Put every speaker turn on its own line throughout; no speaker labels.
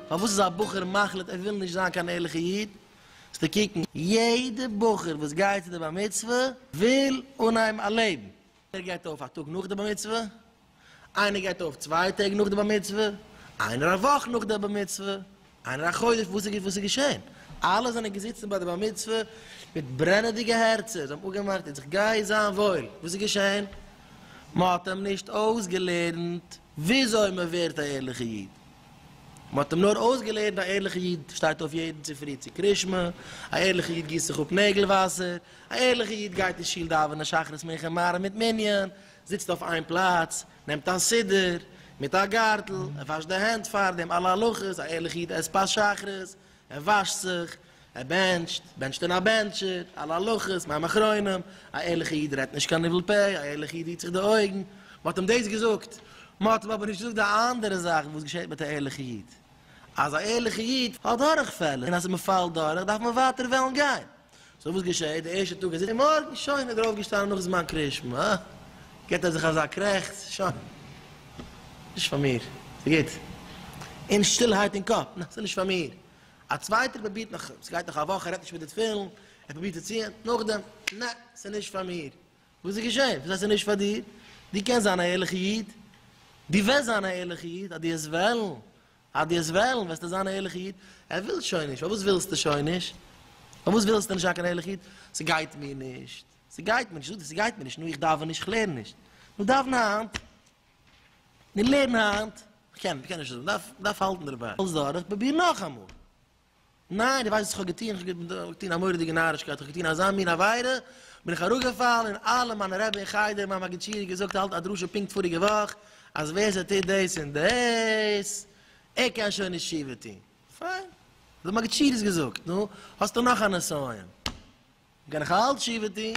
פארוואס איז א בחור מחליט ער וויל נישט זיין קיין ערליכע איד? זאלסטו קוקן, יעדע בחור וואס גייט צו די בר מצוה וויל אנהייבן א לעבן, איינער גייט אויף א טאג נאך די בר מצוה, איינער גייט אויף צוויי טעג נאך די בר מצוה, איינער א וואך נאך די בר מצוה, איינער א חודש, וואס איז געשען? אלע זענען געזיצן ביי די בר מצוה מיט ברענעדיגע הערצער, זיי האבן אפגעמאכט איצט גיי זיין וואויל, וואס איז געשען? מען האט אים נישט אויסגעלערנט. וויאזוי מען ווערט א ערליכע איד. מען האט אים נאר אויסגעלערנט א ערליכע איד שטייט אויף יעדן צופרי צו קרישמע, א ערליכע איד גיסט זיך אפ נעגל וואסער, א ערליכע איד גייט אין שול דאווענען שחרית מנחה מעריב מיט מנין, זיצט אויף איין פלאץ, נעמט א סידור, מיט א גארטל, ער וואשט די הענט פארדעם, אלע הלכות, א ערליכע איד עסט פת שחרית, ער וואשט זיך, ער בענטשט, בענטשט אין א בענטשער, אלע הלכות, מים אחרונים, א ערליכע איד רעדט נישט קיין ניבול פה, א ערליכע איד היט זיך די אויגן, מ'האט אים דאס געזאגט, מ'האט אים אבער נישט געזאגט די אנדערע זאכן וואס געשעט מיט א ערליכע איד, אז א ערליכע איד האט דורכפעלער און אז מ'פאלט דורך דארף מען ווייטער וועלן גיין. סאו וואס געשעהט די ערשטע טאג איז ער מארגן שוין איז ער אויפגעשטאנען נאך זמן קרישמע אה גיבט ער זיך אזא קרעכץ שוין נישט פאר מיר ס'גוט אין שטילהייט אין קאפ נע ס'נישט פאר מיר א צווייטער פרובירט נאך ס'גייט נאך א וואך ער רעדט נישט מיט די תפילין ער פרובירט צו ציען נאכדעם נע ס'נישט פאר מיר וואס איז געשעהן וואס הייסט ס'נישט פאר דיר דו קענסט זיין א ערליכע איד דו וועסט זיין א ערליכע איד אז דו וועסט וועלן אז דו האסט וועלן וועסטו זיין א ערליכע איד, ער וויל שוין נישט, פארוואס ווילסטו שוין נישט? פארוואס ווילסטו נישט זיין קיין ערליכע איד? ס'גייט מיר נישט, ס'גייט מיר נישט, זאג דיר ס'גייט מיר נישט, נו איך דאווען נישט, איך לערן נישט, נו דאווען היינט, נו לערן היינט, איך קען, איך קען נישט אזוי, מ'דארף, מ'דארף האלטן דערביי, האלסט דורך, פרוביר נאכאמאל. ניין, דו ווייסט וואס איך האב געטון, איך האב געטון א מורא'דיגע נארישקייט, איך האב געטון אזא מין עבירה, בין איך אראפגעפאלן און אלע מיינע רעבע אין חדר, מיין מגיד שיעור האט געזאגט האלט א דרשה פונקט פאריגע וואך, אז ווער ס'טוט דאס און דאס, ער קען שוין נישט תשובה טון. פיין, דער מגיד שיעור איז געזאגט, נו, האסטו נאך א נסיון, קען איך אלץ תשובה טון.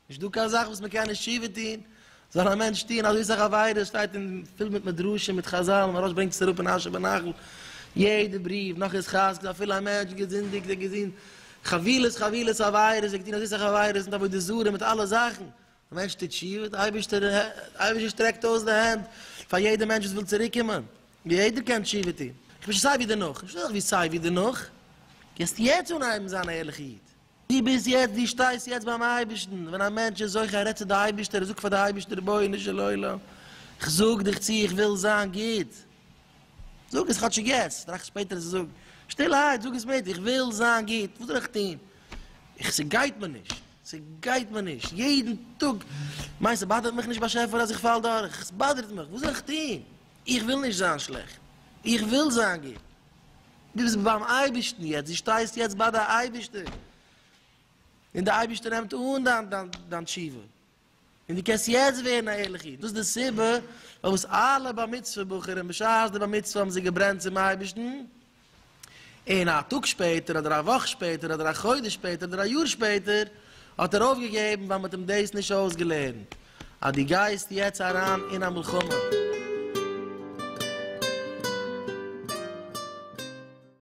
נישט דא קיין זאך וואס מען קען נישט תשובה טוהן, זאל א מענטש טוהן אזוי סאך עבירות, שטייט אין פול מיט מדרשים מיט חזל, מהרש ברענגט עס אראפ אין אשר בנחל, יעדע בריוו, נאך איז חזקה אפילו א מענטש געזינדיגט, ער האט געטוהן חבילות חבילות עבירות, ער האט געטוהן אזוי סאך עבירות מיט עבודה זרה מיט אלע זאכן, די מענטש טוט תשובה, די אייבערשטער שטרעקט אויס די הענט פאר יעדע מענטש וואס וויל צוריק קומען, יעדער קען תשובה טוהן, איך בין שוין סיי ווי דערנאך, נישט אזוי ווי סיי ווי דערנאך, גייסט יעצט אנהייבן זיין א ערליכע איד. דו ביסט יעצט, דו שטייסט יעצט ביים אייבערשטן, ווען א מענטש איז זוכה ער רעדט צו די אייבערשטער ער זאגט פאר די אייבערשטער רבונו של עולם איך זאג דיך צו איך וויל זיין גוט, זאג עס כאטשיג יעצט, טראכט שפעטער צו זאגן, שטילערהייט זאג עס מיט, איך וויל זיין גוט, וואס זאל איך טון, איך ס'גייט מיר נישט, ס'גייט מיר נישט, יעדן טאג, מיינסט ס'באדערט מיך נישט באשעפער אז איך פאל דורך, ס'באדערט מיך, וואס זאל איך טון, איך וויל נישט זיין שלעכט, איך וויל זיין גוט. דו ביסט ביים אייבערשטן יעצט, דו שטייסט יעצט ביי די אייבערשטער, און די אייבערשטער נעמט אן דיין תשובה, און דו קענסט יעצט ווערן א ערליכע איד, דאס איז די סיבה פארוואס אלע בר מצוה בחורים בשעת די בר מצוה האבן זיי געברענט צום אייבערשטן, און א טאג שפעטער אדער א וואך שפעטער אדער א חודש שפעטער אדער א יאר שפעטער האט ער אויפגעגעבן ווייל מען האט אים דאס נישט אויסגעלערנט. אז דו גייסט יעצט אריין אין א מלחמה.